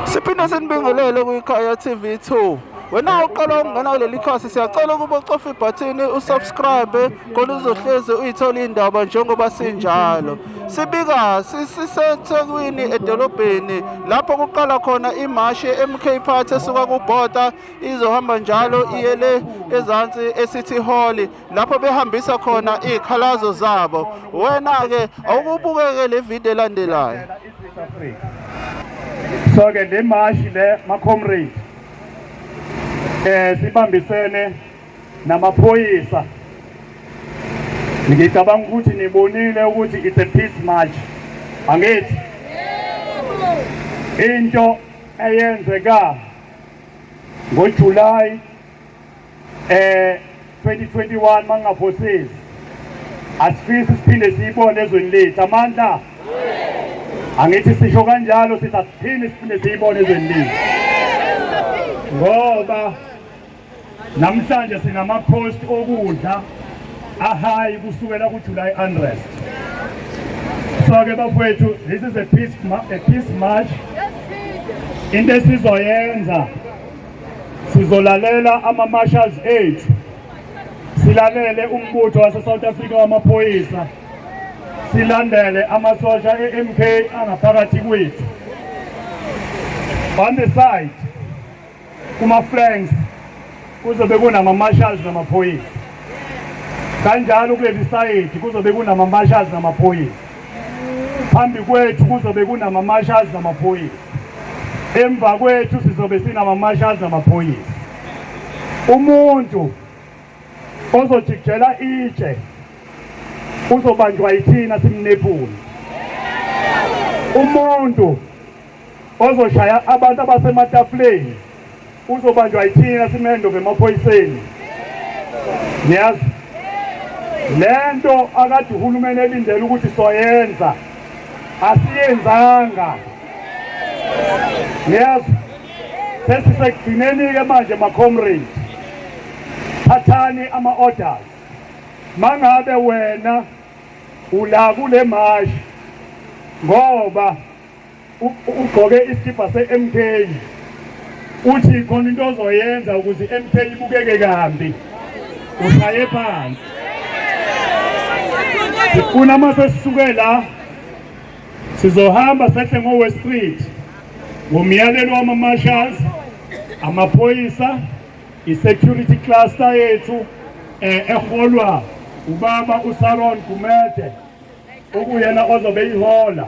siphinde sinibingelele kwikhaya tv 2 wena uqala ukungena kuleli khasi siyacela ukuba ucofa ibhathini usubscribe khona uzohlezi uyithola indaba njengoba sinjalo sibika sisethekwini edolobheni lapho kuqala khona imashi ye-mk party esuka kubhoda izohamba njalo iye le ezansi e-city hall lapho behambisa khona iy'khalazo zabo wena-ke awukubukeke le vidiyo elandelayo so ke le mashi le macomrade eh sibambisene namaphoyisa ngicabanga ukuthi nibonile ukuthi it's a peace march angithi into eyenzeka ngoJuly eh 2021 mangaphosisi asifisi siphinde siyibone ezweni lethu amandla angithi sisho kanjalo sithi asiphinde siphinde siyibone ezweni lethu ngoba namhlanje sinamacost okudla ahayi kusukela kujuly unrest so ke bafowethu this is a peace, a peace march into esizoyenza Sizolalela ama-marshals ethu, silalele umbutho wase-South Africa wamaphoyisa, silandele amasosha e-MK angaphakathi kwethu. On the side, kuma-flanks kuzobe kunama-marshals namaphoyisa kanjalo kuleli sayidi kuzobe kunama-marshals namaphoyisa Phambi kwethu kuzobe kunama-marshals namaphoyisa, emva kwethu sizobe sinama-marshals namaphoyisa. Umuntu ozojikijela itshe uzobanjwa yithina simnephule umuntu ozoshaya abantu abasematafuleni uzobanjwa yithina simendo ngemaphoyiseni niyazi le nto akade uhulumeni elindele ukuthi soyenza asiyenzanga niyazi sesisekugcineni-ke manje macomrade thathani ama-orders mangabe wena ula kule mashi ngoba Ugqoke isikibha se-MK uthi khona into ozoyenza ukuze i-MK ibukeke kambi ushaye phansi ngifuna uma sesisuke la sizohamba sehle ngo-west street ngomyalelo wama-marshals amaphoyisa i-security cluster yethu eh, eholwa ubaba usaron gumede okuyena ozobe ihola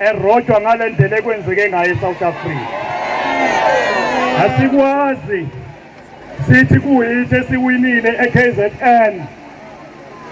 erojwa ngale ndlela ekwenzeke ngayo eSouth Africa asikwazi sithi kuyithi esiwinile eKZN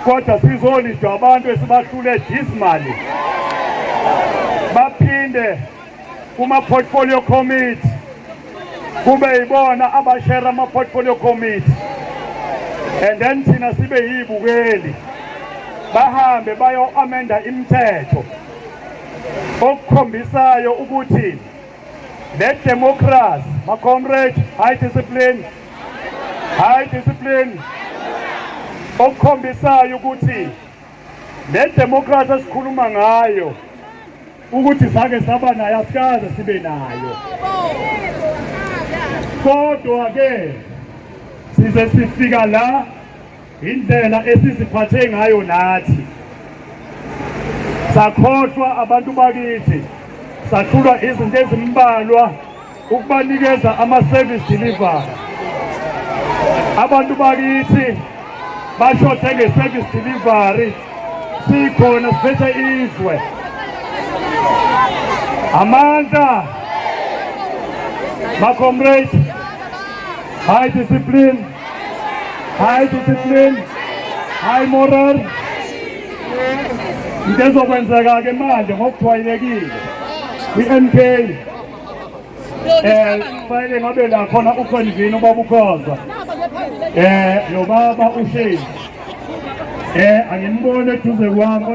kodwa sizolidwa abantu esibahlule dismally baphinde kuma-portfolio committee kube yibona abashera ama-portfolio committee and then thina sibe yiyibukeli bahambe bayo-amenda imithetho okukhombisayo ukuthi le democracy ma comrade high discipline high discipline okukhombisayo ukuthi le democracy esikhuluma ngayo ukuthi sake saba nayo asikaze sibe nayo kodwa ke size sifika la Indlela esiziphathe ngayo nathi sakhohlwa abantu bakithi sahlulwa izinto ezimbalwa ukubanikeza ama-service delivery abantu bakithi bashothe nge-service delivery sikhona siphethe izwe amandla bacomrade high discipline high discipline high moral into ezokwenzeka ke manje ngokujwayelekile kwi-NK eh fanele ngabe la khona ukhonjini ubaba ukhoza eh lo baba ushezi eh angimbone eduze kwami